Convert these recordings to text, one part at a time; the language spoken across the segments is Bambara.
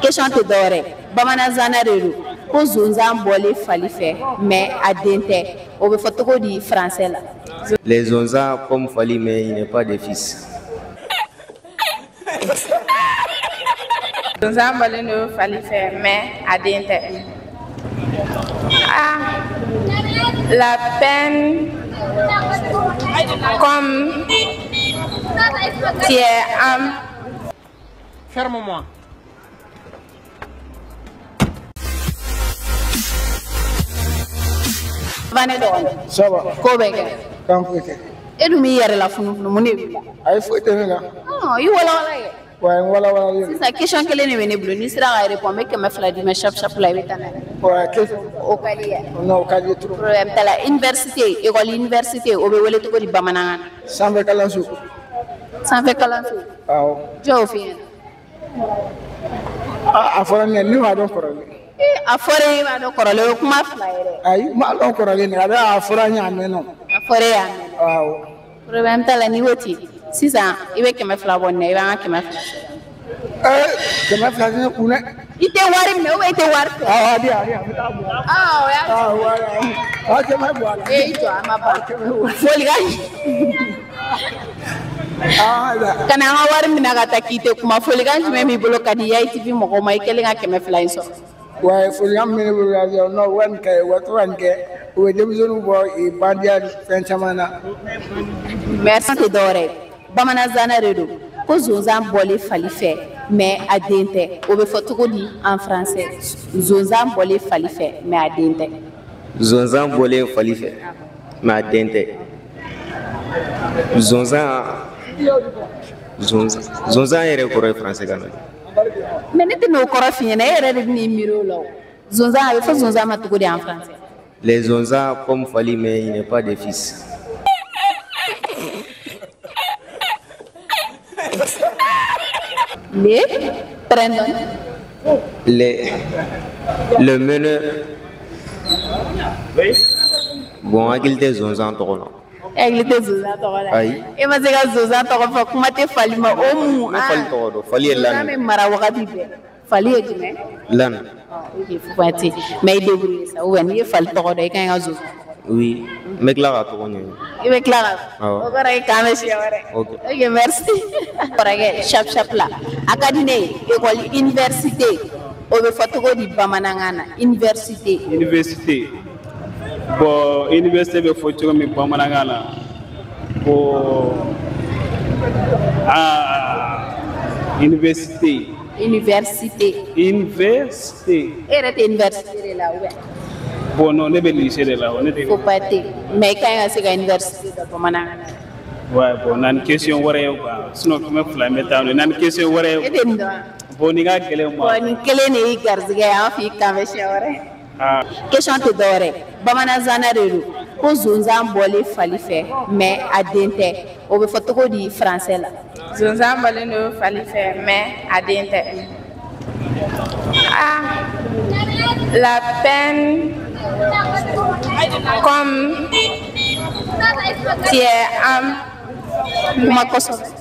question tɛ dɔwɛrɛ bamananzana de don ko zonzan bɔlen fali fɛ mais a den tɛ o bɛ fɔ cogo di français la. les zonzans comme fali mais il n'est pas de fils. zonzan bɔlen don fali fɛ mais a den tɛ. ah lapin comme tu es âne. fermement bane dɔgɔni ça va ko bɛ kɛ kan foyi tɛ e dun b'i yɛrɛ la funufunu mun de b'i la ayi foyi tɛ ne la Ɔn, i walawala kɛ wa ayi n walawalalen don sisan question kelen de bɛ ne bolo n'i sera ka répond n bɛ kɛmɛ fila d'i ma shap shap la i bɛ taa n'a ye wa a kɛ o ka di yan non o ka di trop problème t'a la université école université o bɛ wele cogo di bamanankan na sanfɛ kalanso sanfɛ kalanso Awɔ. Jɔn y'o f'i ɲɛna. A fɔra ne b'a dɔn kɔrɔlen. A fɔra e b'a dɔn kɔrɔlen o ye kuma fila ye dɛ. Ayi n b'a dɔn kɔrɔlen a bɛ a fɔra n ye a mɛnna. A fɔra e y'a mɛn. Awɔ. Problème t'a la n'i ko ten sisan i bɛ kɛmɛ fila bɔ nin na i b'an ka kɛmɛ fila. Ee kɛmɛ fila tɛ ne kun dɛ. I tɛ wari minɛ ou i tɛ wari fɛ? Awɔ a di yan a di yan n bɛ taa bɔ a la. Aa o y'a Awɔ o y'a ye. Ɔ cɛ ma bɔ a la. Ee i jɔ a ma ban. Foli ka ɲi. Kana an ka wari minɛ ka taa k'i tɛ kuma folikan jumɛn b'i bolo ka di Yaye TV mɔgɔw ma i kɛlen ka kɛmɛ fila in sɔrɔ? Wa folikan min bɛ ne bolo ka di yan nɔ u ka nin kɛ u ka to ka nin kɛ u bɛ denmisɛnninw bɔ ee bandiya fɛn caman na. Question tɛ dɔwɛrɛ ye. bamananzana de don ko zonzan bɔlen fali fɛ mais a den tɛ o bɛ fɔ cogo di en français zonzan bɔlen fali fɛ mais a den tɛ zonzan bɔlen fali fɛ mais a den tɛ zonzan zonzan zonzan yɛrɛ kɔrɔ ye français kan na mais ne tɛna o kɔrɔ f'i ɲɛna e yɛrɛ de bɛn'i miiri o la o zonzan a bɛ fɔ zonzan ma cogo di en français Les zonzans comme Fali, mais il n'est pas de fils. Les prénoms. Les, le meneur. Bon, aigle tɛ zonzan tɔgɔ, non? Aigle tɛ zonzan tɔgɔ la ayi e ma se ka zonzan tɔgɔ fɔ kuma tɛ fali ma o mun fali tɔgɔ dɔn fali ye l'âne n b'a mara wagati bɛɛ fali ye jumɛn l'âne i k'i fɔ ti mais i débrouiller sa ou bien n'i ye fali tɔgɔ dɔn i kan ka zo oui n bɛ tila k'a tɔgɔ ɲɛɲini i bɛ tila ka o kɔrɔ ye k'an bɛn siɲɛ wɛrɛ ok merci kɔrɔkɛ shap shap la a ka di ne ye école université o bɛ fɔ cogo di bamanankan na université université bon université bɛ fɔ cogo min bamanankan na bon aa université Université. Université. E yɛrɛ tɛ université de la wa? Bon non ne bɛ lycée de la wa ne tɛ. Faut pas tɛ mais i ka ɲi ka se ka université dɔn bamanankan na. Ouais bon na ni question wɛrɛ ye quoi sinon kɛmɛ fila in bɛ taa n'o ye na ni question wɛrɛ ye. E tɛ nin dɔn wa? Bon nin ka gɛlɛn n ma. Bon nin kelen de y'i garisigɛ ye an fɛ yen k'an bɛn siɲɛ wɛrɛ. question tɛ dɔwɛrɛ bamanan nsana de don ko sonsan bɔlen fali fɛ mais a den tɛ o bɛ fɔ cogo di français la sonsan bɔlen don fali fɛ mais a den tɛ ah lapin comme tu es âne kuma kosɔn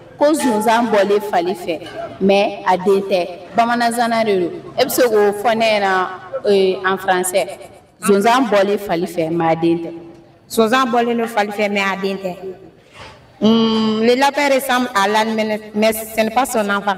ko sonsan bɔlen fali fɛ mais a den tɛ bamanan nsana de don e bɛ se k'o fɔ ne ɲɛna en français sonsan bɔlen fali fɛ mais a den tɛ sonsan bɔlen don fali fɛ mais a den tɛ le lapin ressemble à l'âne mais ce n'est pas son enfant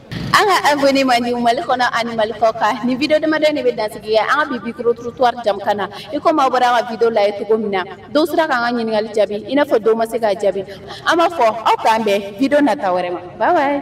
an ka abonné mandiw mali kɔnɔ ani mali kɔkan nin video damadɔ nin bɛ dansigi kɛ an ka bi micro trottoir jɛmukan na i komi aw bɔra k'an ka video lajɛ cogo min na dɔw sera k'an ka ɲininkali jaabi i n'a fɔ dɔw ma se k'a jaabi an b'a fɔ aw k'an bɛn video nata wɛrɛ ma bye bye